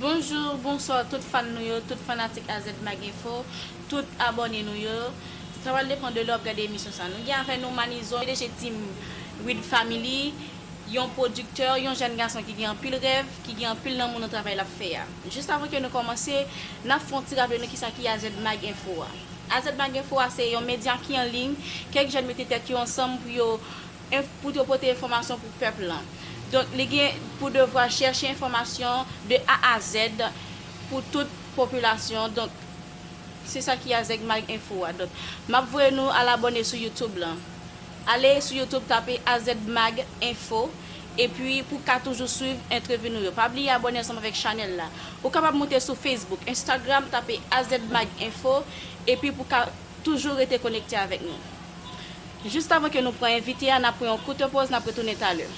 Bonjour, bonsoir tout fan nou yo, tout fanatik AZMagInfo, tout abòne nou yo. Sa pral depan de lè wap gade emisyon sa. Nou gen avè nou Manizo, pdg Team Read Family. Yon pwodiktè, yon jèn gason ki gen anpil rèv, ki gen anpil lanmou nan travay lap fè a. Jis avan ke nou kòmanse, nap fè yon ti raple nou kisa ki AZmag Info a. AZmag Info a se yon medya ki an liy, kèk jèn mete tèt yo ansanm pou yo pou yo pote enfòmasyon pou pèp lan. Donk li gen pou devwa chèche enfòmasyon de A a Z pou tout popilasyon. Donk se sa ki AZmag Info a. Donk map voye nou al abòne sou YouTube lan. Ale sou youtube tape azmag info epi pou w ka toujou swiv entrevi nou yo. Pa bliye abòne ansanm avèk chanèl la. Ou kapab moute sou Facebook, Instagram tape azmag info epi pou w ka toujou rete konekte avèk nou. Jistavan ke nou pran envite a, n ap pran yon koute poz, n ap retounen talè.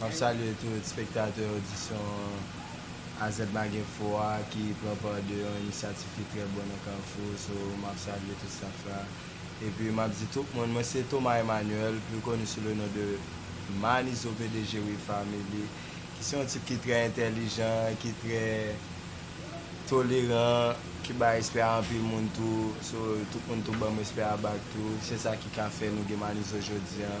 Map salye tout spektatè odisyon AZ Maginfo a ki pran pa de yon inisyativ ki trè bon nan Kafou so map salye tout staff la epi map di tout moun mwen se Thomas Emmanuel pli koni sou le non de Manizo pdg We Family ki se yon tip ki trè entèlijan ki trè toleran ki bay respè a anpil moun tou so tout moun tou banm respè a back tou se sa ki ka fè nou gen Manizo jodi an.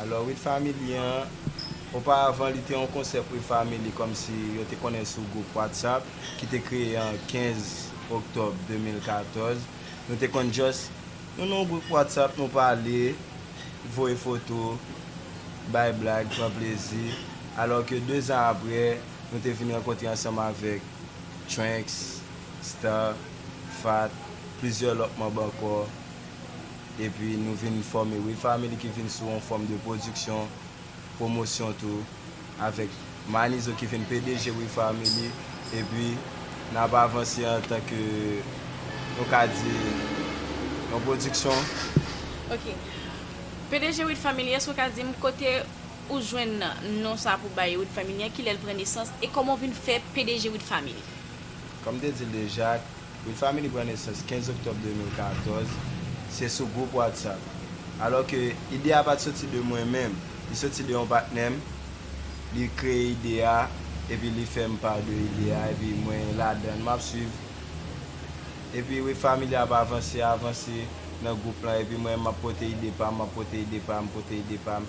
Alò With Family an, oparavan li te yon konsèp With Family kòmsi yo te konnen sou gwoup WhatsApp ki te kreye an 15 Oktòb 2014. Nou te konn just, nou nan yon gwoup WhatsApp nou pale, voye foto, bay blag, pran plezi. Alò ke 2 zan aprè, nou te vin rankontre ansanm avèk Tranx, Star, Fatt, plizyè lòt manb ankò. Epi nou vin fòme We Family ki vin sou yon fòm de pwodiksyon, pwomosyon tou, avèk Manizo ki vin pdg We Family. Epi n ap avanse antan ke nou ka di yon pwodiksyon. Ok. Pdg We Family, èske ou ka di m kote ou jwenn non sa pou bay We Family an, kilè l pran nesans e kòman w vin fè pdg We Family? Kòm m te di l deja, Good Family pran nesans 15 oktòb 2014, se sou gwoup Whatsapp. Alò ke ide a pat soti de mwen menm, li soti de yon patnè m, li kreye ide a epi li fè m pa de ide a epi mwen ladan l, map swiv epi We Family ap avanse, avanse nan gwoup lan epi mwen map pote ide pa m, map pote ide pa m, pote ide pa m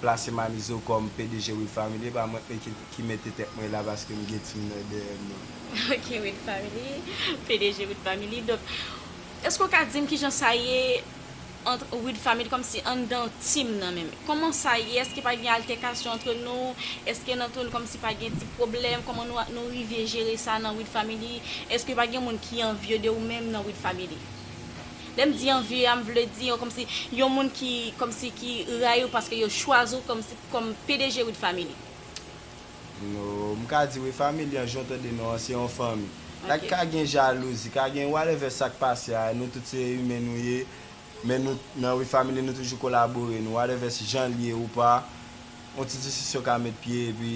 plase Manizo kòm pdg Wid Family epa mwen ki mete tèt mwen la paske m gen team nan dèyèm non. Ok Wid Family, pdg Wid Family donk eske ou ka dim kijan sa ye antr Wid Family kòmsi anndan team nan menm kòman sa ye eske pa gen altèkasyon antr nou eske nan antr nou kòmsi pa gen ti pwoblèm kòman nou rive jere sa nan Wid Family eske pa gen moun ki anvye de ou menm nan Wid Family. Lèm di anviye a m vle di yon kòmsi yon moun ki kòmsi ki rayi w paske yo chwazi w kòmsi kòm pdg Wid Family. No m ka di wi family an jan w tande non an se yon fanmi. Dak ka gen jalouzi ka gen whatever sak pase a nou tout se imen nou ye men nou nan Wid Family nou toujou kolabore nou whatever jan l ye ou pa yon ti disisyon ka met pye epi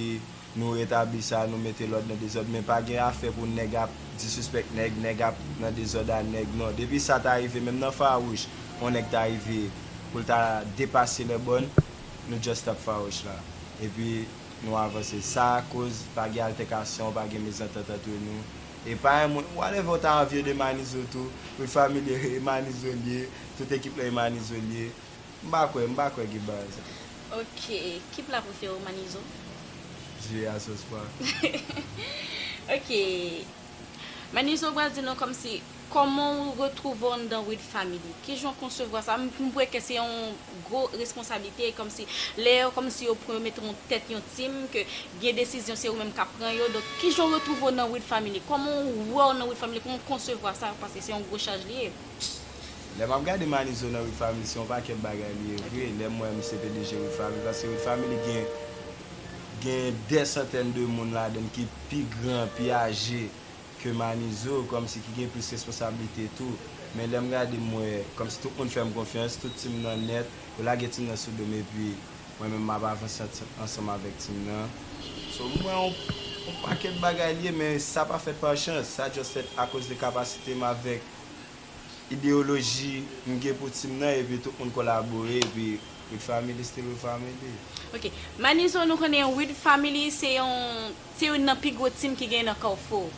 Nou retabli sa, nou mete lòd nan dezòd men pa gen afè pou nèg ap disuspèk nèg, nèg ap nan dezòd a nèg non. Depi sa ta rive menm nan fawouch on nèg ta rive pou l ta depase lèbòn nou just stop fawouch la epi nou avanse sa koz pa gen altèkasyon pa gen mezantant antre nou e pa yon moun whatever ou ta anvye de manizo tou ou t familye e manizo l ye tout ekip lan e manizo l ye. M pa kwè, m pa kwè gen bagay sa. Ok, ki pla prefere w Manizo? Zye a sos pwa. Ok, Manizo pral di nou kòmsi, kòman w retwouve w anndan Wid Family? Kijan w konsevwa sa? M kwè ke se yon gwo responsablite kòmsi, lè yo kòmsi yo pran yo mete w an tèt yon team ke gen desizyon se ou menm kap pran yo, donk kijan w retwouve w nan Wid Family? Kòman w wè w nan Wid Family? Kòman w konsevwa sa? Paske se yon gwo chaj li ye. Pst lè map gade manizo nan wifami se yon pakèt bagay li ye vre lèm wè misye te deje wifami paske wifami li gen gen dè santèn de moun ladann ki pi gran pi aje ke manizo kòmsi ki gen plis responsablite tou men lèm gade m wè kòmsi tout moun fèm konfyans tout team nan nèt yo lage team nan sou dom epi mwen menm map avanse ansanm avèk team nan so m wè yon yon pakèt bagay li ye men sa pa fèt pa chans sa just fèt akoz de kapasite m avèk. ideyoloji m gen pou team nan epi tout moun kolabore epi Wid Family still Wid Family. Ok Manizo nou konnen Wid Family se yon se youn nan pi gwo team ki genyen nan Kafou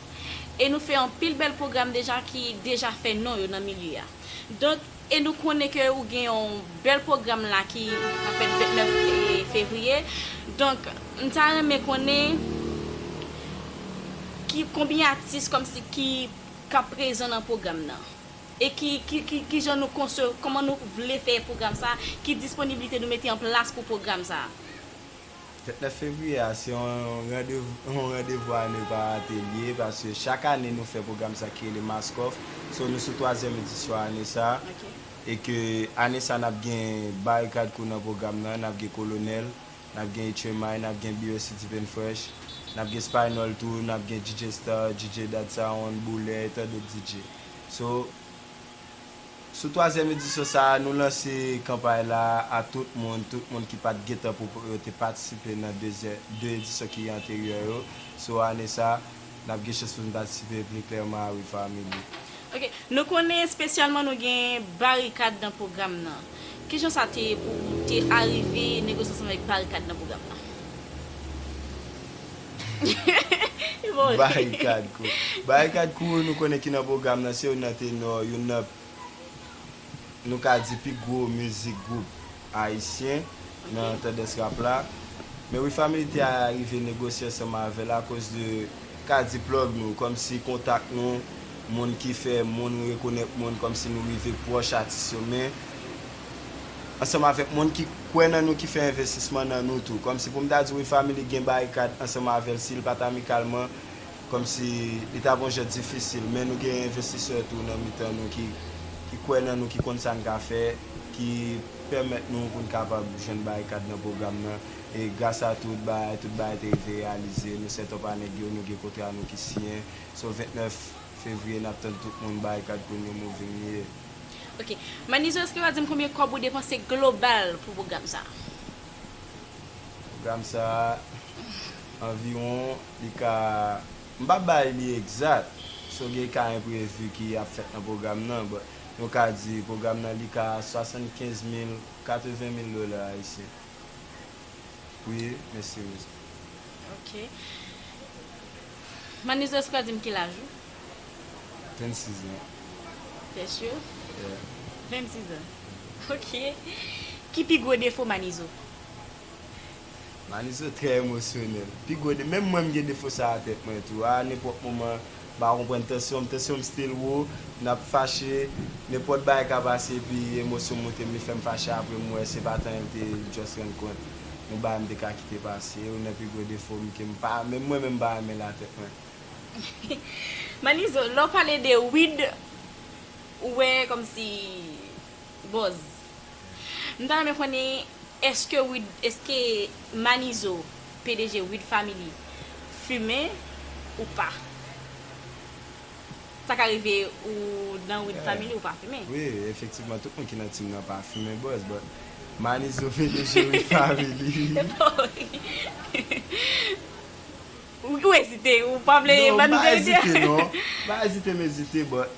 e nou fè anpil bèl pwogram deja ki deja fè non yo nan milye a donk e nou konnen ke ou gen yon bèl pwogram la ki ap fèt 29 Fevriye donk m ta renmen konnen ki konbyen atis kòmsi ki k ap prezan nan pwogram nan e ki ki ki jan nou konse kòman nou vle fè pwogram sa a, ki disponiblite nou mete an plas pou pwogram sa a. Fèt 9 fevriyè a se yon randevou yon randevou a ne pa rate li ye paske chak ane nou fè pwogram sa ki rele Maskòf so nou sou twazyèm edisyon ane sa e ke ane sa n ap gen Barikad Kou nan pwogram nan n ap gen Kolonèl N ap gen H-Remy, n ap gen BOC Deep and Fresh, n ap gen Spinall tou, n ap gen DJ Star, DJ Dad Sound, Boulè e tandot DJ. So, sou twazyèm edisyon sa a, nou lanse kanpay la a tout moun, tout moun ki pa t gen tan pou yo te patisipe nan dezyè, 2 edisyon ki anteryè yo. So, ane sa. nap gen chans pou nou patisipe pli klèman a wi family. Ok, nou konnen espesyalman nou gen Barikad nan pwogram nan. Kijan sa te ye pou ou te arive negosye ansanm avèk Barikad nan pwogram nan? Barikad kou Barikad kou nou konnen ki nan pwogram nan se youn nan tenò, youn nan nou ka di pi gwo mizik gwoup Ayisyen nan tandans rap la, men Wi Family te arive negosye ansanm avè l akoz de kadi plug nou, kòmsi kontak nou, moun ki fè moun rekonèt moun, kòmsi nou rive pwòch atis yo men, ansanm avèk moun ki kwè nan nou ki fè envestisman nan nou tou. Kòmsi pou m ta di Wi Family gen barikad ansanm avè l si l pa t amikalman Kòmsi li ta gon jan difisil men nou gen envestisè tou nan mitan nou ki kwè nan nou, ki konn sa n ka fè, ki pèmèt nou pou n kapab jwenn barikad nan pwogram nan. E gras a tout bagay, tout bagay te rive reyalize. Nou sètòp a nèg yo, nou gen kontra nou ki siyen. So 29 fevriye n ap tann tout moun, Barikad pou New Moving li ye. Ok. Manizo èske w ka di m konbyen kòb ou depanse global pou pwogram sa a? Pwogram sa a anviwon. Li ka, m pa bay li egzat, so gen ka enprevi ki ap fèt nan pwogram nan, but nou ka di pwogram nan li ka 75 mil, 80 mil dola ayisyen. Wi, mèsi Rosa. Ok. Manizes ou ka di m ki laj ou? 26 an. Fè cho? Yeah. 26 an. Ok. Ki pi gwo defo Manizo? Maliso trè emosyonèl. Pi gwo de menm mwen m gen defo sa a tèt mwen tou. A nenpòt moman m pa konprann tansyon m, tansyon m still wo, n ap fache, nenpòt bagay ka pase epi emosyon moute m li fè m fache aprè m wè se pa tan an l te just rann kont yon bagay m te ka kite pase. Youn nan pi gwo defo m ke m pa menm mwen menm m pa renmen l a tèt mwen. Maliso lè w pale de Wid ou wè kòmsi bòz. M ta renmen konnen eske wid eske manizo pdg wid family fumen ou pa sa ka rive ou nan wid family ou pa fumen. Wi efektivman tout moun ki nan team nan pa fumen buzz but manizo pdg wid family wi. Ou ezite ou pa vle bann verite a. Non m pa ezite non m pa ezite m ezite but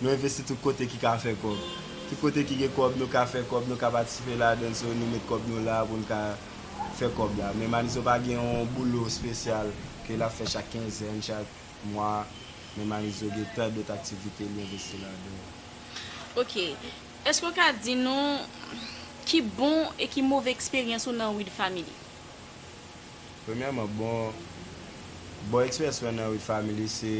Nou envesti tout kote ki ka fè kòb. Tout kote ki gen kòb, nou ka fè kòb, nou ka patisipe ladan l. So, nou met kòb nou la pou n ka fè kòb la. Men Manizo pa gen yon boulot spesyal ke l ap fè chak kenzèn, chak mwa. Men Manizo gen tan dot aktivite li envesti ladan yo. Ok. Eske ou ka di nou ki bon e ki move eksperyans ou nan Weed Family? Premyèman, bon, bon eksperyans mwen nan Weed Family se.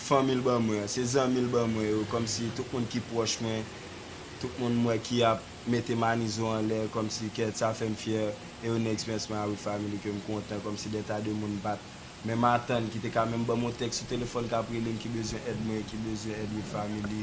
fanmi l ban mwen, se zanmi l ban mwen yo, kòmsi tout moun ki pwòch mwen, tout moun m wè ki ap mete manizo anlè, kòmsi kè sa fè m fyè, e yo next mess my awit family ke m kontan, kòmsi de ta de moun m pat menm atann ki te ka menm ban m yon tèks sou telefòn k ap rele m ki bezwen èd mwen, ki bezwen èd wid family,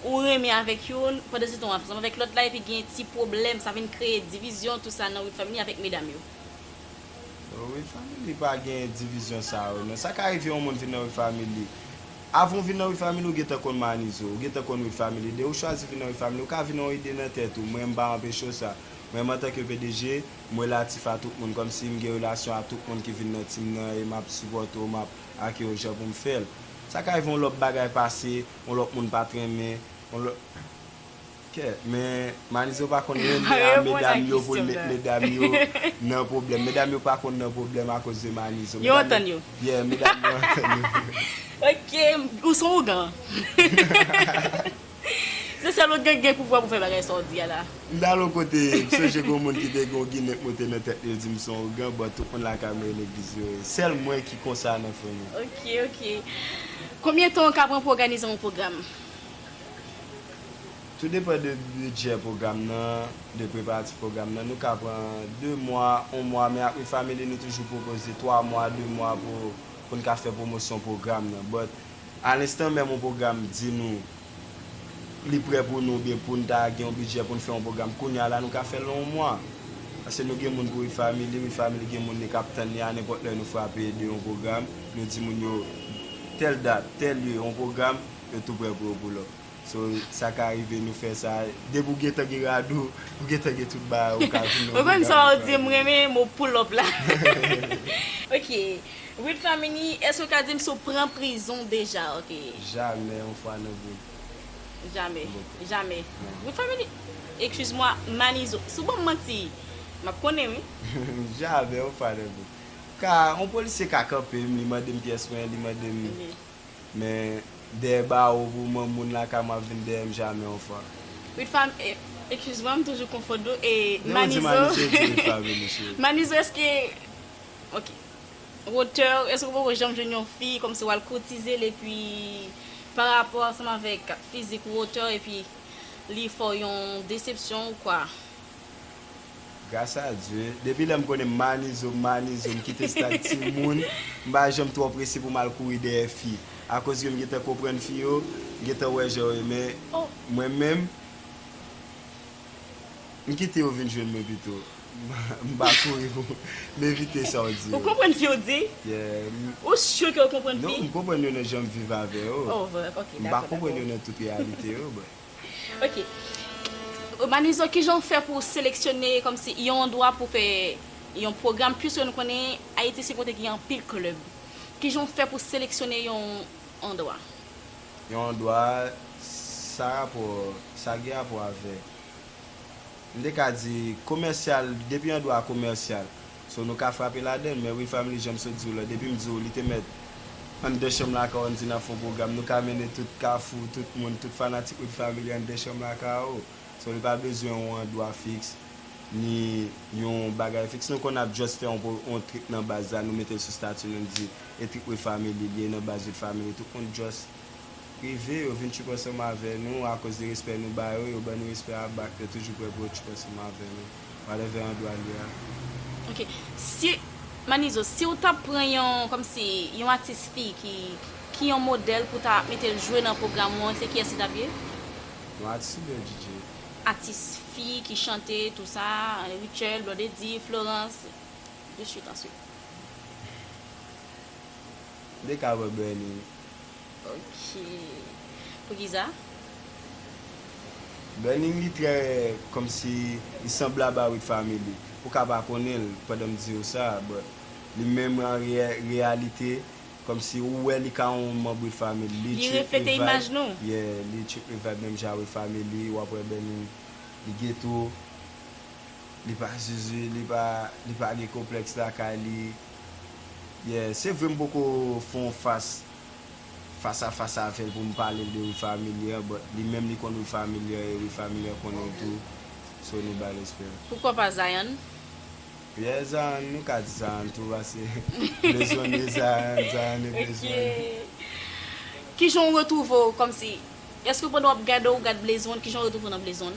Ou renmen avèk youn, pandan se tan wap ansanm avèk lòt la epi gen ti pwoblèm sa vin kreye divizyon tou sa nan with family avèk medam yo. Nan with family pa gen divizyon sa yo nan, sa ka rive yon moun vin nan with family avan ou vin nan with family ou gentan konn manizo, ou gentan konn with family de ou chwazi vin nan with family ou ka vin yon ide nan tèt ou mwen m pa anpeche w sa mwen m antanke pdg m relatif a tout moun kòmsi m gen relasyon a tout moun ki vin nan team nan e map sipòte w map ake w jan pou m fè l sa ka rive yon lòt bagay pase On lòt moun pa t renmen on lòt kè men Malizo pa konn renmen a medam yo pou l met medam yo nan pwoblèm medam yo pa konn nan pwoblèm akoz de Malizo yo antann yo yeah medam yo antann yo ok ou son ougan se sèl ougan ki gen pouvwa pou fè bagay sa w di a la. M t al yon kote m sonje gon moun ki te gen yon ginen k moute nan tèt li yo di m son ougan bon tout moun lakay mwen e legliz yo ye sèl mwen ki konsa nan fanmi. Ok ok Konbyen tan ou ka pran pou òganize yon pwogram? Tou depan de bidjè pwogram nan, de preparatif pwogram nan, nou ka pran 2 mwa, 1 mwa men ak We Family nou toujou pwopoze 3 mwa, 2 mwa pou pou n ka fè pwomosyon pwogram nan but alenstan menm yon pwogram di nou. li prè pou nou oubyen pou n ta gen yon bidjè pou n fè yon pwogram kounye a la nou ka fè l nan yon mwa. Paske nou gen moun pou Refamily, Refamily gen moun li kap tann li a nenpòt lè nou frape de yon pwogram nou di moun yo tèl dat, tèl lye yon pwogram yo tou prè pou yo pull up. So sa ka rive nou fè sa depi w gentan gen rad ou, ou gentan gen tout bagay ou ka vin nan yon pwogram Refamily. Ou konn sa w di m renmen mo pull up la. Ok. Ruth Famini eske ou ka dim si ou pran prizon deja ok. Jamè yon fwa nan boul. Jamè jamè Ruth Famini excuse moi Manizo sou banm manti map konnen wi. Jamè yon fwa nan boul. Ka yon polisye ka kanpem li mandem pyès mwen li mandem men dèyè bawo pou mwen moun lakay mwen ap vin dèyèm jamè yon fwa. Ruth Fam excuse moi m toujou konfonn nou e Manizo Manizo eske. Ok. Wotè, èske ou poko janm jwenn yon fi kòmsi wal koutizel epi pa rapò ansanm avèk fizik ou wotè epi li fè w yon desepsyon ou kwa? Gras a Dye, depi lè m konnen Manizo, Manizo, m kite stad timoun, m pa janm twò prese pou m al kouri dèyè fi. Akoz ke m gentan konprann fi yo, m gentan wè jan yo ye men, mwen menm, M kite yo vin jwenn mwen pito. M pa kouri pou m evite sa w di yo. Ou konprann fi ou di? Yeah. Ou sure ke ou konprann fi? Non, m konprann yo nan jan m viv avè yo. Oh, ok, dakò, dakò. M pa konprann yo nan tout reyalite yo, but. Ok. Manizo, kijan ou fè pou ou seleksyone kòmsi yon andwa pou fè yon pwogram, puiske nou konnen Ayiti se kote ki gen anpil club. Kijan ou fè pou seleksyone yon andwa? Yon andwa sa rapò sa gen rapò avèk m te ka di komèsyal depi andwa a komèsyal so nou ka frape ladan l men wi family jan m sot di w la depi m di w li te mèt anndan chanm lakay w an n di n ap fè yon pwogram nou ka mennen tout kafou tout moun tout fanatik wi family anndan chanm lakay w so li pa bezwen yon andwa fiks ni yon bagay fiks nou konn ap just fè yon trip nan baz la nou mete l sou stati nou n di. Epic with family liye nan baz with family tout moun just rive yo vin tchoup ansanm avè nou akoz de respè nou ba yo yo ban nou respè a back yo toujou prè pou yo tchoup ansanm avè nou whatever andwa li a. Ok si Manizo siw tap pran yon kòmsi yon atis fi ki ki yon modèl pou ta metel jwe nan pwogram ou an se kiyès li tap ye? Yon atis oubyen yon DJ? Atis fi ki chante tou sa Rutshelle, Blondedy, Florence de suite en suite. Ou te ka wè Bernie wi. Ok Poukisa? Bernie li trè kòmsi li sanblab a With Family ou ka pa konnen l pandan m diw sa but li menm an reyalite kòmsi ou wè li ka yon manb With Family li trip with vibe yeah li trip with vibe menm jan a With Family wap wè Bernie li geto. Li pa zuzu li pa li pa gen konplèks lakay li yeah se vre m poko fon fas fas a fas avèl pou m pale l de wi familiar but li menm li konn wi familiar e wi familiar konnen l tou so nou bay respè. Poukò pa Zion? Yeah Zion nou ka di Zion tou pase bezwen n wi Zion Zion e bezwen n. Ok kijan w retwouve w kòmsi èske pandan w ap gade w gad Blaze One kijan w retwouve w nan Blaze One?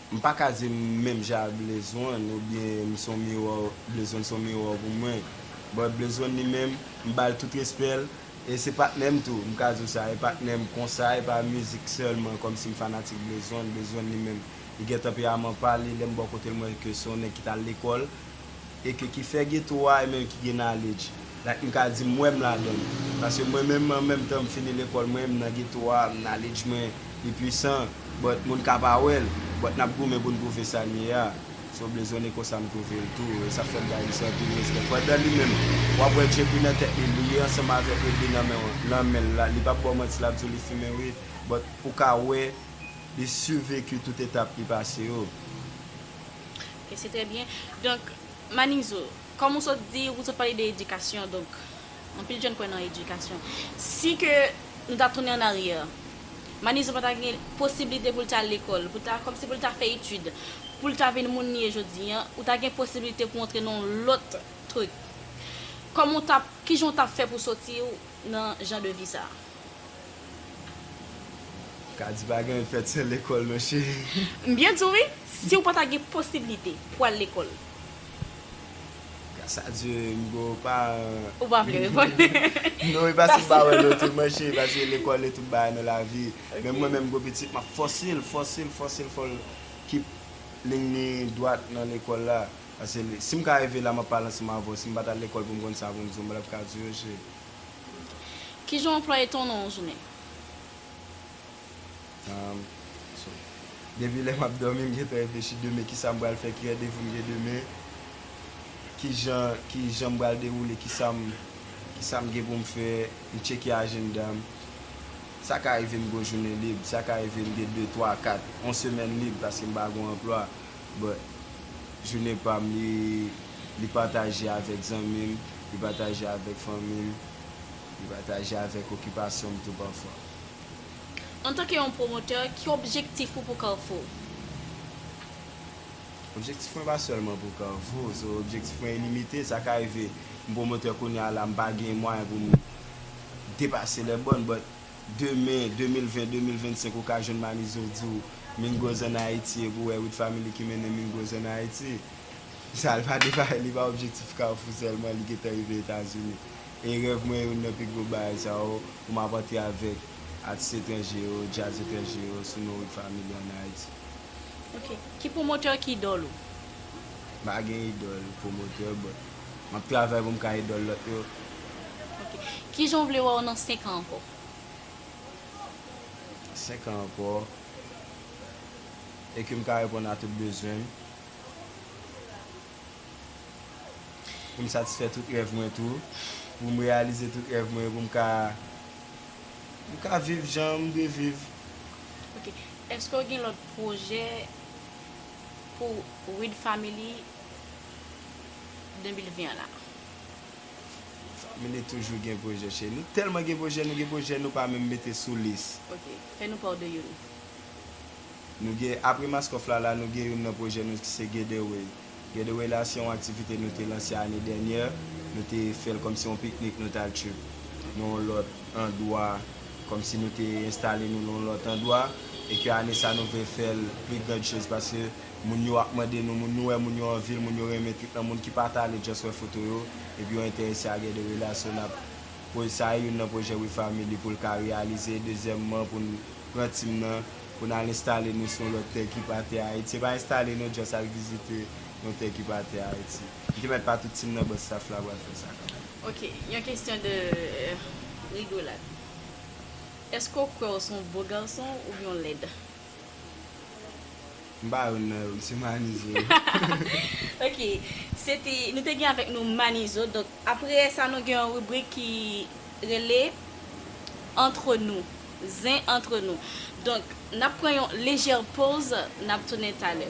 M pa ka di m menm jan ak Blaze One oubyen m son miwa Blaze One son miwa pou mwen but Blaze One li menm m ba l tout respè l e se patnè m tou m ka di w sa e patnè m konsa e pa mizik sèlman kòmsi m fanatik Blaze One Blaze One li menm li gen tanperaman pa l e lè m bò kote l m wè ke se yon nèg ki t al lekòl e ke ki fè geto a e menm ki gen knowledge like m ka di m wè m ladan l paske mwen menm an menm tan m fini lekòl mwen m nan geto a knowledge mwen li pwisan but moun ka pa wè l but n ap goumen pou n pwouve sa n ye a so blezone konsa m twouve l tou e sa fè m bay misye anpil respè pandan li menm w ap wè djp nan tèt li li ye ansanm avè ede nan men w nan men l la li p ap ba w manti l ap di w li fimen wi but pou w ka wè li survécu tout etap li pase yo. Ok se trè byen. Donk Manizou, kòm ou sot di, ou sot pale de edikasyon, donk anpil jèn kwè nan edikasyon. Si ke nou ta tounen an aryè, Manizou pa ta gen posiblite pou l ta al lekòl, pou l ta, kòmsi pou l ta fè etid, pou l ta vin moun li ye jodi an, ou ta gen posiblite pou w antre nan yon lòt truk. Kòman ou ta, kijan ou ta fè pou w soti w nan jan de vi sa a? Ka di pa gen fèt san lekòl non cheri. M byen di w wi, si w pa ta gen posiblite pou w al lekòl. Gras a Dye m gen yon paran. Ou pa vle reponn. Non e pa se m pa wè non tou man cheri paske lekòl e tout bagay nan lavi. Menm mwen menm m gen yon pitit m ap fòse l, fòse l, fòse l fò l kip lign li dwat nan lekòl la. Paske si m ka rive la m ap pale ansanm avè w, si m pa t al lekòl pou m konn sa pou m di w m pa t ap ka di w cheri. Ki jan w anplwaye tan w nan yon jounen? Depi lè m ap dòmi, m gentan reflechi demen ki sa m pral fè, ki randevou m gen demen, ki jan ki jan m pral dewoule, ki sa m ki sa m gen pou m fè, m tcheke ajenda m. Sa ka rive m gen yon jounen lib, sa ka rive m gen de, twa, kat, yon semèn lib paske m pa gen yon anplwa. but jounen pam li li pataje avèk zanmim li pataje avèk fanmim li pataje avèk okipasyonm tou pafwa. Antanke yon pwomotè, ki objektif ou pou Carrefour? Objektif mwen pa sèlman pou Carrefour, so objektif mwen ilimite, sa ka rive m pwomotè kounya la m pa gen mwayen pou m depase lè bòn but demen 2020 2025 ou ka jwenn Malizo di w Mingos an Ayiti epi w wè Wid Family ki mennen Mingos an Ayiti. Sa l pa devare li pa objektif Kafou sèlman li gentan rive Etazini. E rèv mwen youn nan pi gwo bagay sa yo pou m ap antre avèk atis etranje yo, djaz etranje yo sou non Wid Family an Ayiti. Ok. Ki pwomotè ki idòl ou? M pa gen idòl pwomotè but. Map travay pou m ka idòl lòt yo. Ok. Kijan w vle wè w nan 5 an ankò? 5 an ankò, e ke m ka reponn a tout bezwen m. Pou m satisfè tout rèv mwen tou. Pou m reyalize tout rèv mwen yo pou m ka, pou m ka viv jan m vle viv. Ok. Eske w gen lòt pwojè? pou Read Family 2020 an la. Family toujou gen pwojè cheri. Nou tèlman gen pwojè, nou gen pwojè nou pa menm mete sou lis. Ok, fè nou pa w de youn. Nou gen, apre Maskoff la la, nou gen youn nan pwojè nou ki se Getaway. Getaway la se yon aktivite nou te lanse ane dènyè, nou te fè l kòmsi yon piknik nou t al trip nan yon lòt andwa. Kòmsi nou te enstale nou nan yon lòt andwa e ke ane sa nou vle fè l pli grand chose paske moun yo ap mande nou moun, nou wè moun yo anvi l, moun yo renmen tout nan moun ki pa ta ale just wè foto yo epi yo enterese a gen de relasyon nap poze sa e youn nan pwojè We Family pou l ka reyalize e dezyèmman pou n pran team nan pou n al enstale nou sou yon lòt tè ki pa tè Ayiti se pa enstale non just al vizite yon tè ki pa tè Ayiti. Jimèt pa tout team nan but staff la pral fè sa kanmenm. Ok yon kesyon de rigolad eske w kwè w se yon bo garson oubyen w lèd? M pa youn nan yo m se manizo. Ok se te nou te gen avèk nou manizo donk aprè sa nou gen yon ribrik ki rele entre nous zen entre nous donk nap pran yon lejè poz nap tounen talè.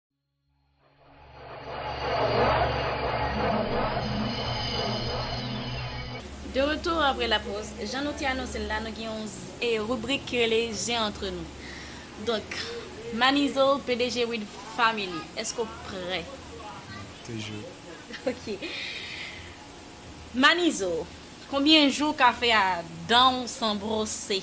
De retour après la pause, jan nou te anonse l la nou gen yon ribrik ki rele je antre nou donk Manizo pdg Wid family eske w prè? Toujou. Ok Manizo konbyen jou w ka fè a dan w san brose?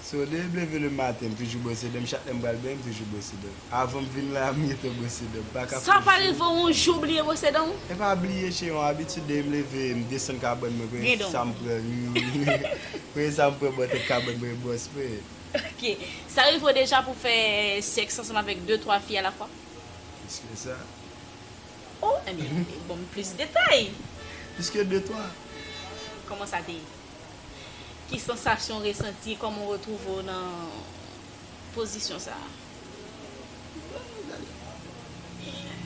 So de m leve le maten m toujou bwose danm chak lèm pral benyen m toujou bwose danm avanm vin la m gentan bwose danm mpaka fon jou Sa pa rive w yon jou w bliye bwose dan w? Epa bliye se yon abitid depi m leve m desann kabann mwen premye sa m pran premye sa m pran bò tèt kabann mwen bwòs mwen. Ok sa rive w deja pou w fè sèks ansanm avèk de twa fi alafwa? Plis ke sa. Oh ebyen banm plis detay. Plis ke de twa. Kòman sa te ye? Ki sansasyon ou resanti? Kòman ou retwouve ou nan pozisyon sa a?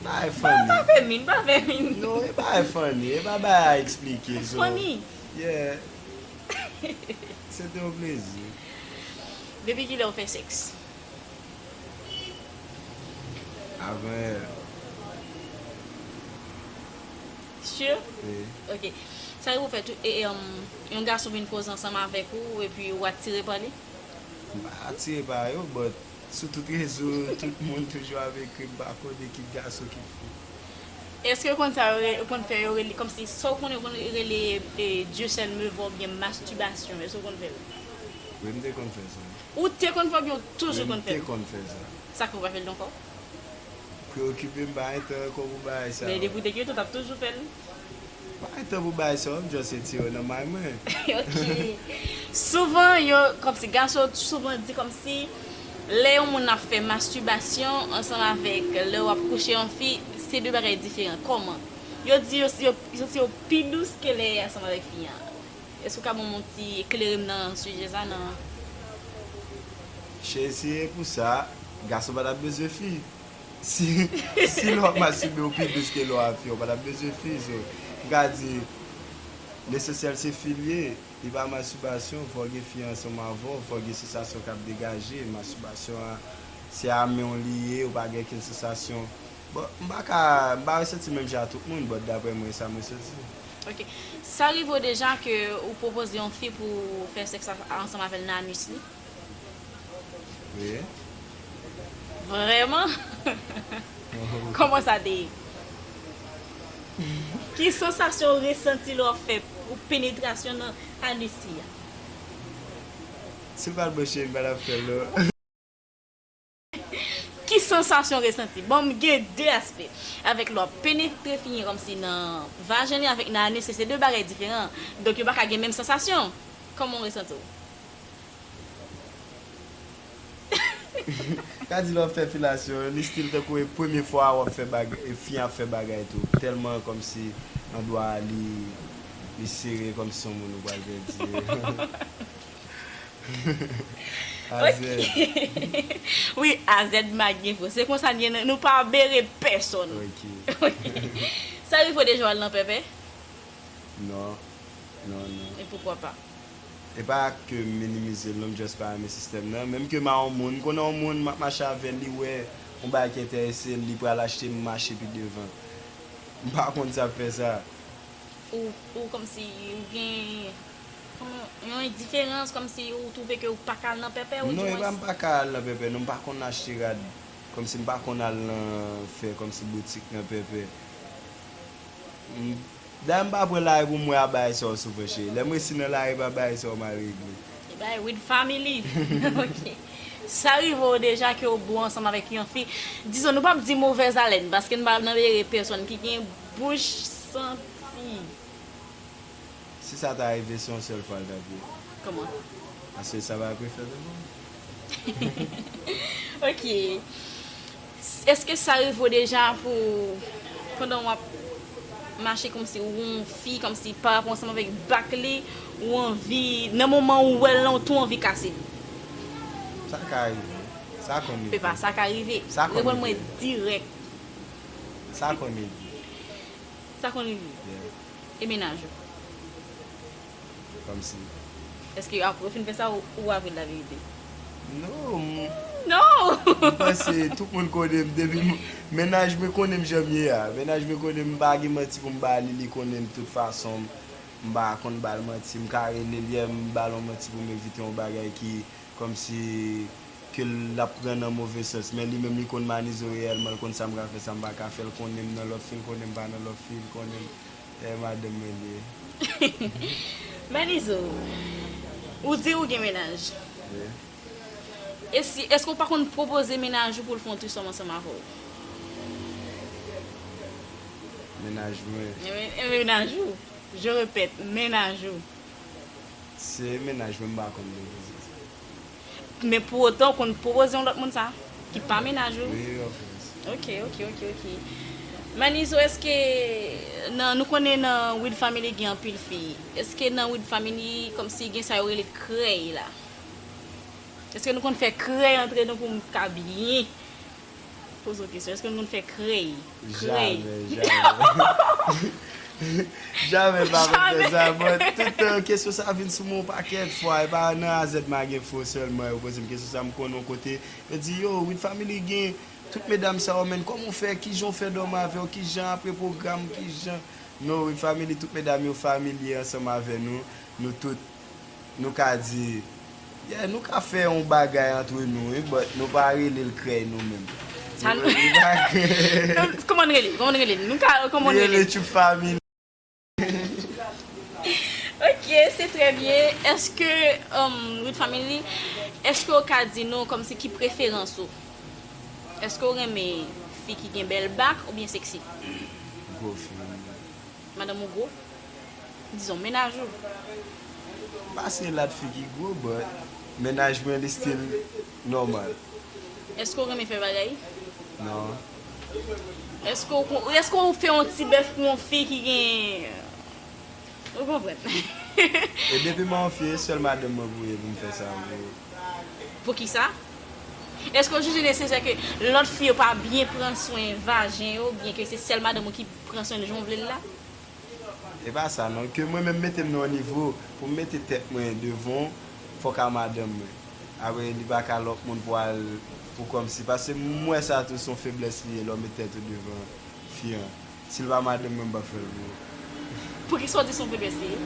Bagay funny. Pa fè min, pa fè min. Non, e bagay funny. E pa bagay a eksplike. It's funny. Yeah. Se te yon plezi. Depi kilè ou fè sèks? Avanyè. Sure? Wi. Ok. Sa yo pou fè tou eeum yon gason vin koze ansanm avèk ou epi ou atire pa li? M pa atire pa yo but sou tout rezo tout moun toujou ap ekri m pa konnen ki gason ki fou. Eske ou konn sa yo rele ou konn fè yo rele kòmsi sa ou konnen ou konn rele Dieu seul me voit oubyen masturbation eske ou konn fè l? Wi m te konn fè sa. Ou te konn fè oubyen ou toujou konn fè l? Wi m te konn fè sa. Sa k fè ou pa fè l non kò? Preokipe m pa gen tan anko pou bagay sa yo. Men depi w te gen tan w tap toujou fè l. M pa gen tan pou bagay sa yo m just retire yo nan may mwen. Ok. Souvan yo kòmsi gason yo souvan di kòmsi lè yon moun ap fè masturbation ansanm avèk lè wap kouche yon fi se 2 bagay diferan kòman? Yo di yo santi yo pi dous ke lè ansanm avèk fi an. Èske ou ka ban m yon ti eklere m nan sijè sa nan. Cheri si e pou sa, gason pa tap bezwen fi. Si si lè wap masturbe ou pi dous ke lè wap fi ou pa tap bezwen fi so m ka di lesensyèl se fi l ye li pa masturbation fòk gen fi ansanm avè w fòk gen sensasyon kap degaje masturbation an se a men w li ye ou pa gen okenn sensasyon. Bon, m pa ka, m pa resenti menm jan a tout moun, but daprè mwen e sa m resenti. Ok. Sa rive w deja ke ou pwopoze yon fi pou w fè sèks ansanm avè l nan anus li? Wi. Vrèman? Kòman sa te ye? Ki sansasyon ou resenti lè w fè yon penetrasyon nan anus fi a? Si l pa t bouche, m pa t ap fè l non. Ki sansasyon w resanti? Bon, m gen de aspè. Avèk lò, penetre figi Ramsey nan vajen li avèk nan anus li se de bagay diferan. Donk yo pa ka gen menm sansasyon. Kòman w resanti w? Ka di lè w ap fè filasyon, li stil tankou e premye fwa a w ap fè bagay, e fi an ap fè bagay tou. Tèlman kòmsi andwa a li sere kòmsi se yon moun ou pral pèdi. Wi AZ magen vre se konsa liye nou pa bere pèsòn Sa rive w deja w al nan pèpè? Non non non E poukwa pa? E pa ke m minimize l non m just pa renmen sistèm nan menm ke m a yon moun m konnen yon moun m ap mache avè l li wè yon bagay ki entèrese l li pral achte m mache pi devan m pa konn sa fè sa. Ou kòmsi ou gen. Yon endiferans kòmsi ou twouve ke ou paka al nan pèpè ou di mwen. Non e pa mpa ka al nan pèpè non mpa konn achte rad kòmsi mpa konn al nan fè kòmsi boutik nan pèpè dayè mpa pran lari poum wè abay sa ou souffre chérie lèm resi nan lari epa bagay sa ou mal regle. Se bagay Wid family ok sa rive w deja ke ou bo ansanm avèk yon fi dizon nou pap di movèz alèn paske nou pa nan ere pèsòn ki gen bouch santi. Si sa ta rive se yon sèl fwa l tap ye. Kòman? Paske sa pa pe fèt ankò. Ok. Eske sa rive w deja pou pandan wap mache kòmsi ou wè yon fi kòmsi pa rapò ansanm avèk bak li ou anvi nan moman ou wèl lan ou tou anvi kase li? Sa ka rive. Sa konn rive. Se pa sa ka rive. Sa konn rive. Reponn mwen dirèk. Sa konn rive. Sa konn rive. Yeah. E mennaj ou? Kòmsi? Eske apre ou fin fè sa ou avèl laverite? Non m. Non! M panse tout moun konnen m depi m. Mennaj mwen konnen m jan m ye a. Mennaj mwen konnen m pa gen manti pou m ba li, li konnen m tout fason m. M pa konn ba l manti. M ka rele l yè m ba l yon manti pou m evite yon bagay ki Kòmsi ke l ap pran nan move sans. Men li menm li konn Manizo reyèlman, l konn sa m ka fè, sa m pa ka fè, l konnen m nan lòt fi, l konnen m pa nan lòt fi, l konnen m eh madanm mwen li ye. Manizo, ou di ou gen mennaj. Wi. E si, èske ou pa konn pwopoze mennaj ou pou l fè yon trisòm ansanm avè w? Mennaj mwen. Mennaj ou, je répète, mennaj ou. Se mennaj mwen m pa konn de kisa sa ye. Men pou otan ou konn pwopoze yon lòt moun sa ki pa mennaj ou. Wi wi ofkòs. Ok ok ok ok Manizo eske nan nou konnen nan wid family gen anpil fi eske nan wid family kòmsi gen sa yo rele krèy la eske nou konn fè krèy antre nou poum ka byen Poze w kesyon, èske yon moun fè krèy? Krèy? Jamè, jamè, jamè, m pa konn fè sa. Mwen, tout kesyon sa a vin sou mwen yon pakèt fwa. E pa nan AZ Magen Fo sèlman yo poze m kesyon sa a. M konn yon kote, yo di, yo, Wid Family gen tout medam sa yo men, kòman w fè, ki jan w fè dòmi avè yo, ki jan apre pwogram, ki jan. Non, Wid Family, tout medam yo familye ansanm avè nou. Nou tout. Nou ka di, Yeah, nou ka fè yon bagay antre nou wi, but nou pa rele l krèy nou menm. Sa nou. Nou pa rele. Kòman n rele l? Kòman n rele l? Nou ka, kòman n rele l? Li rele Tchoup Fami. Ok, se trè byen. Eske, Rood Family, eske ou ka di nou kòmsi ki preferans ou? Eske ou renmen fi ki gen bèl bak oubyen seksi? Gwo fi. Madanm ou gwo? dizon mennaj ou. Pase la t figi gwo but mennaj mwen li still normal. Eske w renmen fè bagay? Non. Eske w kon eske w fè yon ti bèf pou yon fi ki gen ou konprann. E depi manfye e sèl madanm mwen pou ye pou m fè sa pou ou. Poukisa? Eske w jije nesesè ke lòt fi yo pa byen pran swen vajen yo byen ke se sèl madanm ou ki pran swen l jan w vle l la? E pa sa non, ke mwen menm mete m nan yon nivo pou m mete tèt mwen devan w, fòk a madanm mwen. Apre li pa ka lòt moun pou al pou kòmsi. Pase m wè sa tou se yon feblès li ye lè w met tèt ou devan fi an. Si l pa madanm mwen m pap fè l pou ou. Poukisa w di se yon feblès li ye?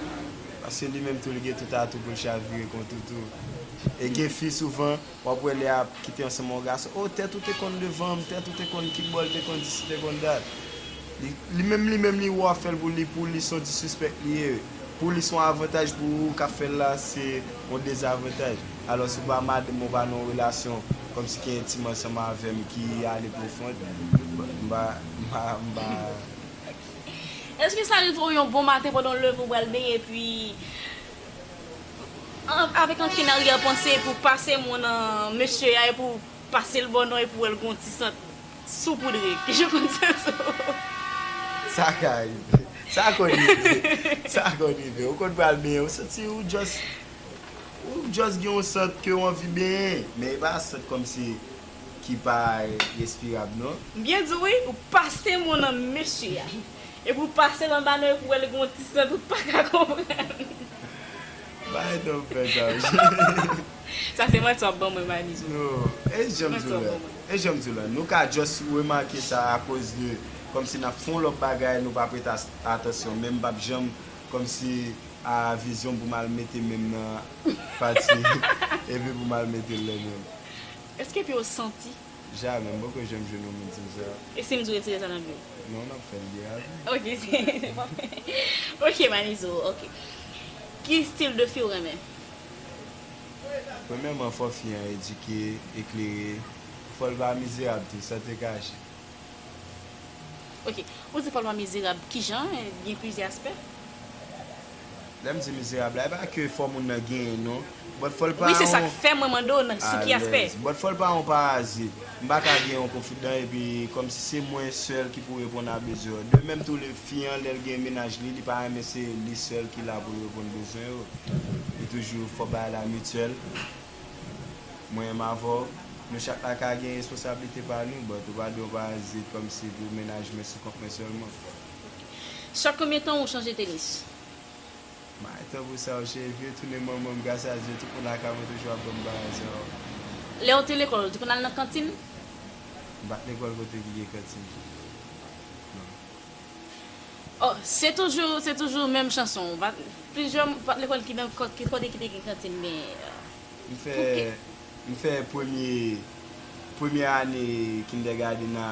Pase li menm tou li gen tout atou pou l chavire kont ou tou. E gen fi souvan Wap wè lè ap kite ansanm yon gason oh tèt ou te konn devanm tèt ou te konn kibòl te konn disi te konn dat li menm li menm li wè wap fèl pou li pou li son disrespect li ye pou li son avantaj pou ou kap fèl la se yon dezavantaj alòs ou pa madanm ou pa nan yon relasyon kòmsi ki entim ansanm avèm ki ale profond mpa mpa mpa. Eske sa rive w yon bon maten pandan w leve ou pral benyen epi. Avèk ankenn aryè panse pou pase mo nan mesye a epou pase l bò non epou wè l gon ti sant soupoudre ki je konn sa sou. Sa ka rive. Sa konn rive. Sa konn rive. Ou konn pral benyen ou santi ou just ou just gen yon sant ke ou anvi benyen. Men e pa sant kòm si ki pa respirab non. M byen di w wi, ou pase mo nan mesye a. Epi ou pase lan banan epi ou wè li gen yon ti sant ou paka konprann. Bay non pè Dawson. Sa se manti wap ban mwen bay mizo. No, e janm di w la, e janm di w la, nou ka just remake sa a koz de komsi nap fon lòt bagay nou pa prete atansyon men m pap janm komsi a vizyon pou m al mete menm nan pati epi pou m al mete l lè menm. Eske epi ou santi. Jamè, m poko janm jwenn yon moun di m sa. E si m di w retire sa nan vi w? Non, n ap fè l byen avi. Ok, se pa fè. Ok, Manizo, ok. Ki stil de fi w renmen? Premyèman, fò fi an edike, eklere. Fò l pa mizerab tou, san te kache. Ok. Ou di fò l pa mizerab, ki jan? Gen plizyè aspè? Lèm di mizerab la e pa ke fò moun nan genyen non but fòl pa yon Wi se sak fè mwen mande w nan sou ki aspè. Alèz but fòl pa yon parazit. M pa ka gen yon konfidan epi kòmsi se mwen sèl ki pou reponn a bezwen yo. De menm tou le fi an lèl gen mennaj li li pa renmen se li sèl ki la pou l reponn bezwen yo. E toujou fò bagay la mutuel. Mwen m avè w nou chak la ka gen responsablite pa nou but ou pa dwe yon parazit kòmsi pou mennaj mwen sou kont mwen sèlman. Chak konbyen tan ou chanje tenis? May tan pou sa ou cheri vye tounen manman m gras a Dye tout moun lakay mwen toujou ap ban m bagay sa yo. Lè ou te lekòl ou te konn al nan kantin? M pat lekòl kote ki gen kantin non. Oh se toujou se toujou menm chanson ou pat plizyè ou pat lekòl ki nan ki kote ki te gen kantin gen pou ki. M fè premye premyè ane kindègadenn a.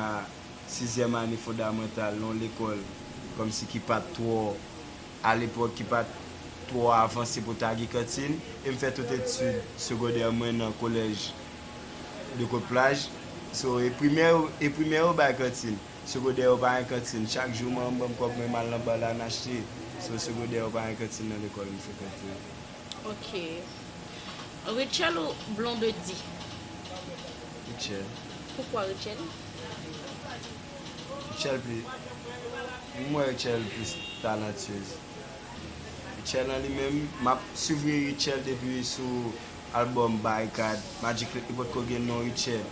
sizyèm ane fondamantal nan yon lekòl kòmsi ki pa t twò, alepòk, ki pa t twò avanse pou ta gen kantin. E m fè tout etid segondè mwen nan kolèj de Kotplaj. So, e primè yo, e primè yo bay kantin. Segondè yo pa gen kantin. Chak jou manman m ban m kòb mwen m al nan ba la m achte. So, segondè yo pa gen kantin nan lekòl m frekante yo. Ok. Rutshelle ou Blondedy? Rutshelle. Poukwa Rutshelle? Rutshelle pli, m wè Rutshelle plis talentueuse. Rutshelle an li menm, m ap suvri Rutshelle depi sou album Barikad, Magic Click li potko gen non Rutshelle.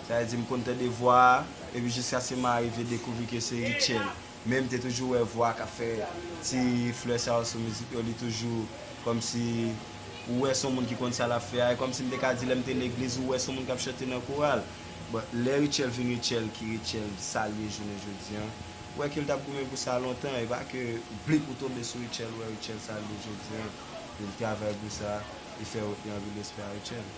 Sa vle di m konn tande vwa a, epi jiskaske m arive dekouvri ke se Rutshelle. Men m te toujou wè vwa kap fè ti flè sa yo sou mizik yo li toujou kòmsi ou wè son moun ki konn sa lap fè a e kòmsi m te ka di lè m te legliz ou wè son moun kap chante nan koral but lè Rutshelle vin Rutshelle ki Rutshelle sa l ye jounen jodi an ou wè ke l tap goumen pou sa lontan e pa ke blip ou tonbe sou Rutshelle ou wè Rutshelle sa l ye jodi an e l travay pou sa e fè yo gen anpil respè a Rutshelle.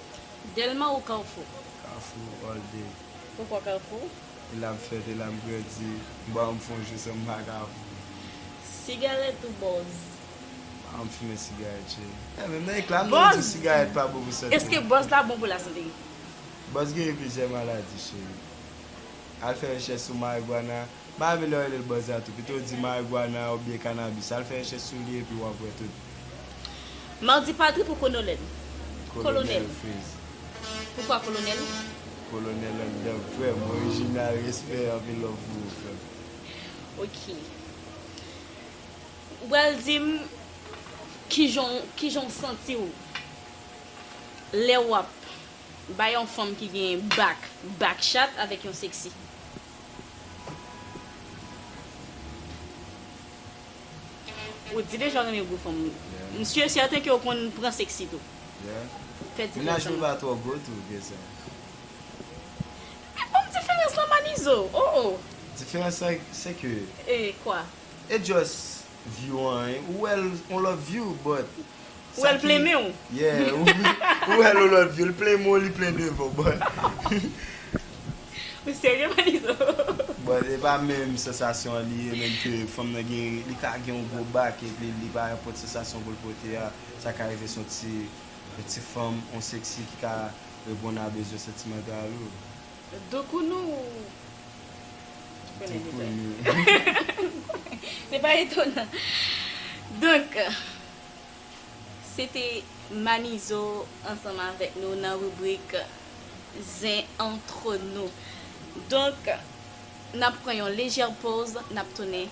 Delma ou Carrefour? Carrefour all day. Poukò Carrefour? E lap fèt e lap grandi. Bon anm fon jou sanm paka fou. Sigarèt ou bòz. Anm fimen sigarèt cheri. E menm nan ekla nou di sigarèt pa bon pou sante. Eske bòz la bon pou la sante. Bòz geri plizyè maladi cheri. Al fè rechèch sou marigwana. M pa renmen lè yo rele l bòz la tou. Pito di marigwana oubyen kanabis. Al fè rechèch sou li epi wap wè tout. Mardi Padri pou Konolèl. Kolonèl. Kolonèl Freeze. Poukwa kolonèl? Colonel an dan frèm. Original respè anpil love pou ou frèm. Ok ou pral dim kijan kijan w santi w lè wap bay yon fanm ki gen back back chat avèk yon sexy. Ou di deja ou renmen gwo fanm wi. M sur certain ke ou konn pran sexy tou. Fè diferans lan. Menaj mwen pa twò gwo tou ke sa. Men banm diferans lan Manizo. Oh oh. Diferans lan se ke. E kwa? E just view an. Ou wèl on lòt view but. Ou wèl plen menw. Yeah ou wèl ou love you li plen menw li plen devanw boy. Ou serye manizo. Bon e pa menm sansasyon an li ye menm ke fanm nan gen li ka gen yon gwo bak epi li pa pot sansasyon poul pote a sa ka rive son ti yon ti fanm yon sexy ki ka reponn a bezwen santimantal ou. Doukounou ou konnen detay. Se pa etonan. Donk, se te Manizo ansanm avèk nou nan ribrik Zen Antre Nous. Donk, n ap pran yon lejè poz, n ap tounen.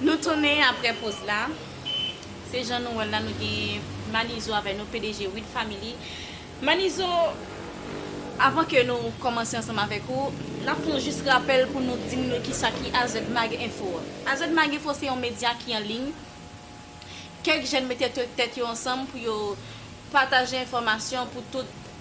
Nou tounen aprè poz la. Se jan nou wèl la nou gen Manizo avè nou pdg Wid Family. Manizo avan ke nou kòmanse ansanm avèk ou, nap fè yon jis rapèl pou nou dim nou kisa ki AZmag Enfo. AZmag Enfo se yon medya ki an liy. Kèk jèn mete tèt yo ansanm pou yo pataje enfòmasyon pou tout.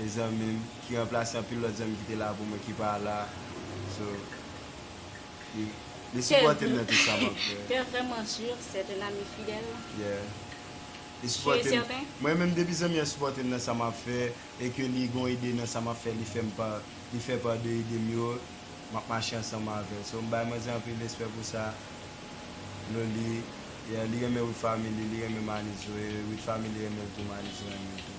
e zanmi m ki ranplase anpil lòt zanmi ki te la pou mwen ki pa la so li sipòte m nan tout sa m ap fè T'es vraiment sur c'est un ami fidèle? Yeah li sipòte m mwen menm depi zanmi an sipòte m nan sa m ap fè e ke li gon ide nan sa m ap fè li fè m pa li fè part de ide m yo m ap mache ansanm avè l so m bay manzè anpil respè pou sa Loli yeah li renmen with family li renmen Manizo e with family renmen l tou Manizo renmen l tou.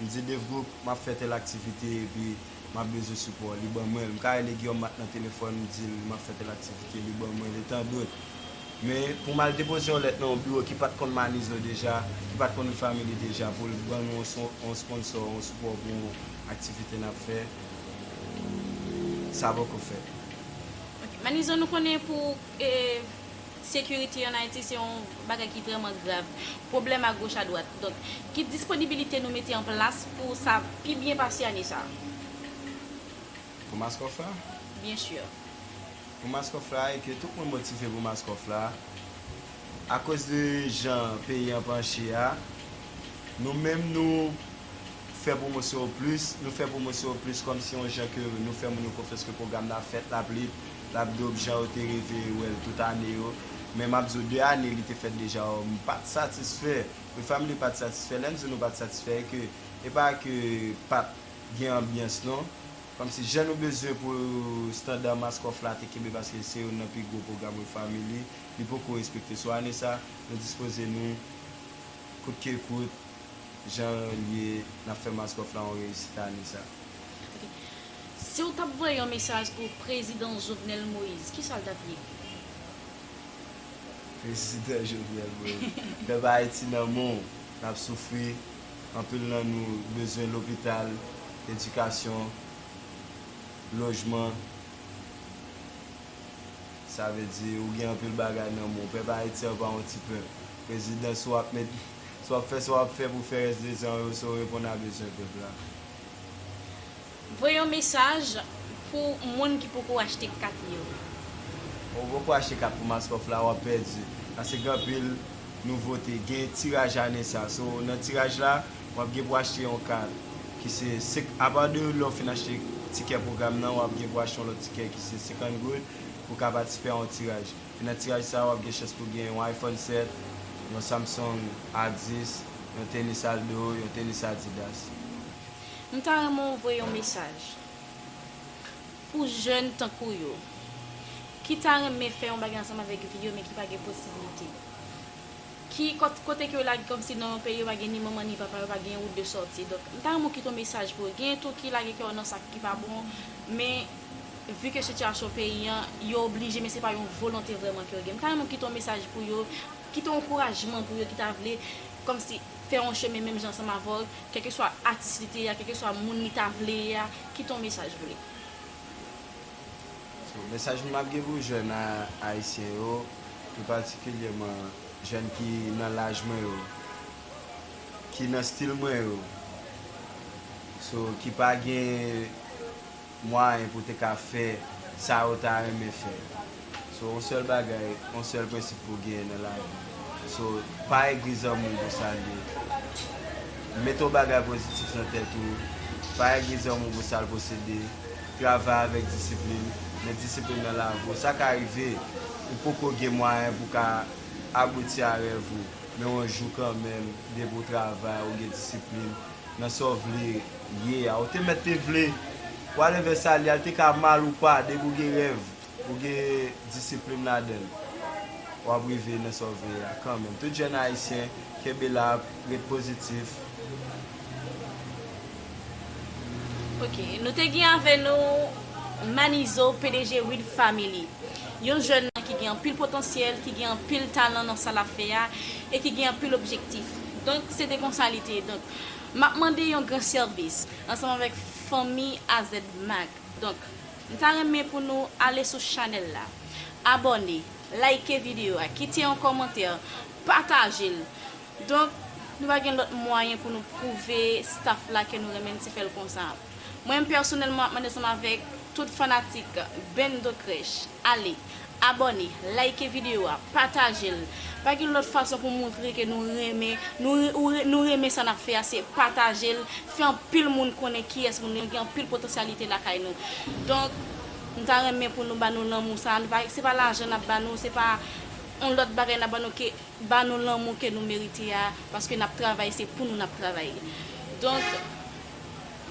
M di Dave Group m ap fè tèl aktivite epi m ap bezwen sipò w. Li ban mwen l. M ka rele Guillaume Marc nan telefòn m di l m ap fè tèl aktivite, li ban mwen l e tan dot. Men, pou m al depoze yon lèt nan yon biwo ki pa t konn Manizo deja, ki pa t konn Refamily deja pou l ban nou yon sponsò, yon sipò pou yon aktivite n ap fè, sa poko fèt. Ok. Manizo nou konnen pou. Security en Haiti se yon bagay ki vreman grav. Pwoblèm a goch a dwat. Donk, ki disponibilite nou mete an plas pou sa pi byen pase ane sa a? Pou Mask Off la? Byen sûr. Pou Mask Off la e ke tout moun motive pou Mask Off la, akoz de jan peyi an panche a, nou menm nou fè pwomosyon plis, nou fè pwomosyon plis kòmsi yon jan ke nou fè moun yo konfyans ke pwogram nan ap fèt, l ap li, Lap dope jan yo te reve wèl tout ane yo. Men map di w 2 ane li te fèt deja oo m pat satisfè. Wi family pat satisfè lèm di nou pat satisfè e ke e pa ke pat gen anbyans non. Kòmsi jan nou bezwen pou standard Maskoff la te kenbe paske se youn nan pi gwo pwogram Wi family li poko respekte sou ane sa nou dispoze nou kout ke kout jan l ye nap fè Maskoff la yon reyisit ane sa. Si w tap voye yon mesaj pou prezidan Jovenel Moïse, kisa l tap ye? Prezidan Jovenel Moïse, pèp Ayiti nan men w, n ap soufri, anpil nan nou bezwen lopital, edikasyon, lojman, sa vle di ou gen anpil bagay nan men w. Pèp Ayiti an pa yon ti pèp. Prezidan si w ap fè sa w ap fè pou fè rès 2 zan w yo, se w reponn a bezwen pèp la. Voye yon mesaj pou moun ki poko achte kat yo. Ou poko achte kat pou Mascoff la wap pèdi paske gen anpil nouvote gen tiraj ane sa so nan tiraj la wap gen pou achte yon kat ki se apa de lè ou fin achte tikè pwogram nan wap gen pou achte yon lòt tikè ki se 50 goud pou ka patisipè a yon tiraj. E nan tiraj sa wap gen chans pou gen yon iPhone 7, yon Samsung A10, yon tenis Aldo, yon tenis Adidas. M ta renmen w voye yon mesaj pou jèn tankou w yo ki ta renmen fè yon bagay ansanm avèk vi yo men ki pa gen posiblite. Ki kote ke yo lage kòmsi nan yon peyi yo pa gen ni manman ni papa, yo pa gen yon wout de sòti. Donk m ta renmen w kite yon mesaj pou yo. Genyen tou ki lage kè yo nan sa ki pa bon men Vu que situation peyi an, yo oblije men se pa yon volonte vrèman ke yo gen. M ta renmen ou kite yon mesaj pou yo, kite yon ankourajman pou yo ki ta vle kòm si fè yon chemen menm jan ansanm avè w, kèlkeswa atis li te ye a, kèlkeswa moun li ta vle ye a, kite yon mesaj pou li. So, mesaj m ap gen pou jèn ayisyen yo, pi patikilyèman jèn ki nan laj mwen yo, ki nan stil mwen yo, so, ki pa gen. mwayen pou te ka fè sa yo ta renmen fè so yon sèl bagay yon sèl prensip pou genyen nan lavi so pa egri zanmiw pou sal ye met yon bagay pozitif nan tèt ou pa egri zanmiw pou sal posede travay avèk disiplin met disiplin nan lavi w sa ka rive ou poko gen mwayen pou ka abouti a rèv ou men yon jou kanmenm depi ou travay ou gen disiplin. Nan sa w vle ye a. Ou te mèt te vle. Whatever sa li a, li te ka mal ou pa, depi ou gen rèv, ou gen disiplin ladan l, w ap rive nan sa w vle ye a kanmenm. Tout jèn Ayisyen, kenbe la, ret pozitif. Ok, nou te gen avè nou Manizo, pdg Reed Family. Yon jèn ki gen anpil potansyèl, ki gen anpil talan nan sa l ap fè a. E ki gen anpil objektif. Donk, se te konsa li te ye. Donk, m ap mande yon gran sèvis, ansanm avèk fanmi AZmag. Donk, m ta renmen pou nou ale sou chanèl la, abòne, layike videyo a, kite yon kòmantè, pataje l. Donk, nou pa gen lòt mwayen pou nou pwouve staf la ke nou renmen l, se fè l konsa. Mwen menm pèsonèlman, m ap mande ansanm avèk tout fanatik Bendo Crèche. Ale Abòne, like video a, patajel, pa gen lòt fason pou moutre ke nou renmen nou ou nou renmen sa nap fè a se patajel, fè anpil moun konnen kiyès moun nou gen anpil potansyalite lakay nou donk m ta renmen pou nou ba nou lanmou sa nou pa se pa lajan nap ba nou se pa yon lòt bagay nap ba nou ke ba nou lanmou ke nou merite a paske nap travay se pou nou nap travay donk.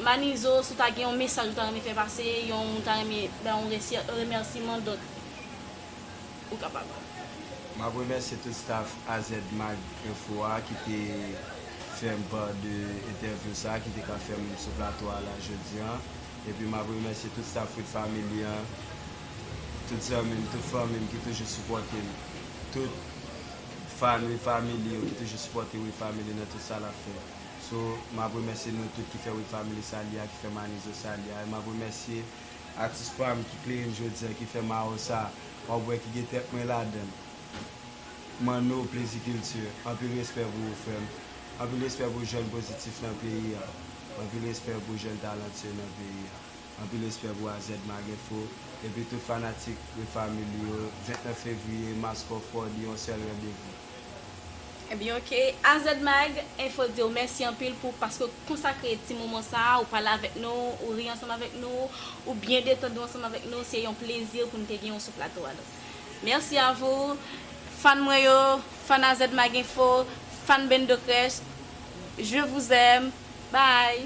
Manizo si w ta gen yon mesaj ou ta renmen fè pase yon ou ta renmen bay yon remèsiman dont ou kapab. Map remèsye tout staff azmag info a ki te fèm part de entèvyou sa ki te ka fèm sou plato a la jodi an epi map remèsye tout staff With Family an tout zanmi m tout fanmi m ki toujou sipòte m tout fan With Family yo ki toujou sipòte With Family nan tout sa lap fè. So map remèsye nou tout ki fè Wid Family sali a ki fè Manizo sali a e map remèsye atis pam ki kleyem jodi an ki fè mawo sa wap wè ki gen tèt mwen ladann Manno Plezi Culture anpil respè pou ou frèm anpil respè pou jèn pozitif nan peyi an anpil respè pou jèn talantyeu nan peyi an anpil respè pou AZ Magenfo epi tout fanatik Wid Family yo 29 fevriye Mass Crawford yon sèl randevou. Ebyen ok AZ Mag, info diw mèsi anpil pou paske w konsakre ti moman sa a, ou pale avèk nou, ou ri ansanm avèk nou, ou byen detann ou ansanm avèk nou, se yon plezi pou n te genyen w sou plato a nou. Merci à vous Fan mwen yo, Fan AZ Mag Info, Fan Bendo Crèche, je vous aime, bye!